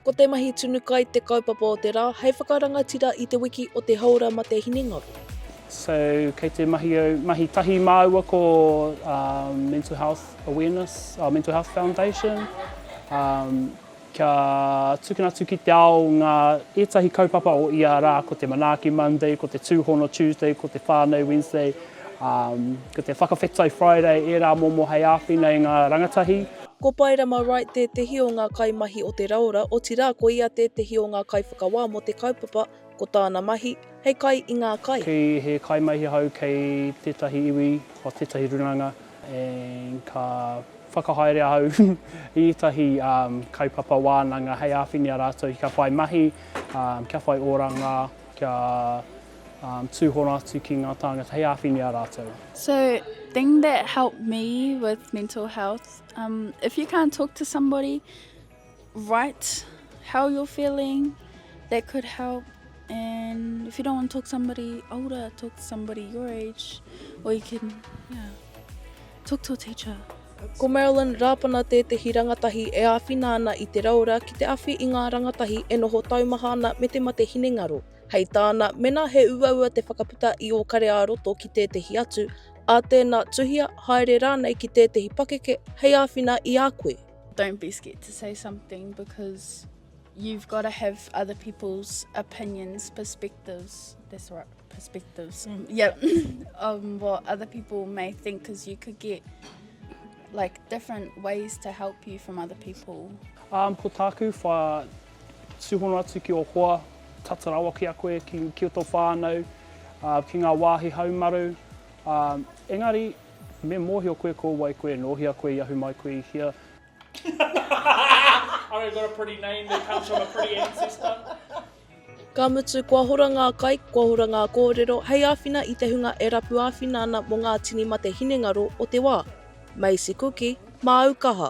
Ko te mahi tunu kai te kaupapa o te rā hei whakarangatira i te wiki o te Hāora Mate Hinengaro. So kei te mahi au, mahi tahi māua ko Mental Health Awareness, Mental Health Foundation. Kia tukuna atu ki te ao ngā ētahi kaupapa o ia rā, ko te Manaaki Monday, ko te Tūhono Tuesday, ko te Whānau Wednesday, ā, ko te Whakawhetai Friday, ērā momo hei āwhina i ngā rangatahi. Ko Paerama Wright tētehi o ngā kaimahi o Te Raora, otirā ko ia tētehi o ngā kaiwhakawā mō te kaupapa ko tāna mahi hei kai i ngā kai. Kei he kaimahi ahau kei tētahi iwi o tētahi ruranga and ka whakahaere ahau i ētahi kaupapa wānanga hei āwhini a rātou kia whai mahi, kia whai oranga, kia tūhono atu ki ngā tāngata hei āwhini a rātou. So thing that helped me with mental health, if you can't talk to somebody, write how you're feeling, that could help. And if you don't want to talk to somebody older, talk to somebody your age, or you can, yeah, talk to a teacher. Ko Marilyn Rapana tētehi rangatahi e āwhina ana i te raora ki te awhi i ngā rangatahi e noho taumaha ana me te mate hinengaro. Hei tāna, mēnā he uaua te whakaputa i ō kare ā-roto ki tētehi atu, ā tēnā, tuhia, haere rānei ki tētehi pakeke hei āwhina i a koe. Don't be scared to say something because you've got to have other people's opinions, perspectives. That's right, perspectives. Mm. Yep. um, what other people may think because you could get like different ways to help you from other people. Um, ko tāku wha tūhono atu ki o hoa, tata rawa ki a koe, ki, ki o tō whānau, uh, ki ngā wāhi haumaru. Um, engari, Me mōhio koe ko wai koe, nō hea koe i ahu mai koe i hea. I've got a pretty name that comes from a pretty ancestor. Ka mutu, kua hora ngā kai, kua hora ngā kōrero hei āwhina i te hunga e rapu āwhina ana mō ngā tini mate hinengaro o te wā. Maisie Kuki, māu kaha.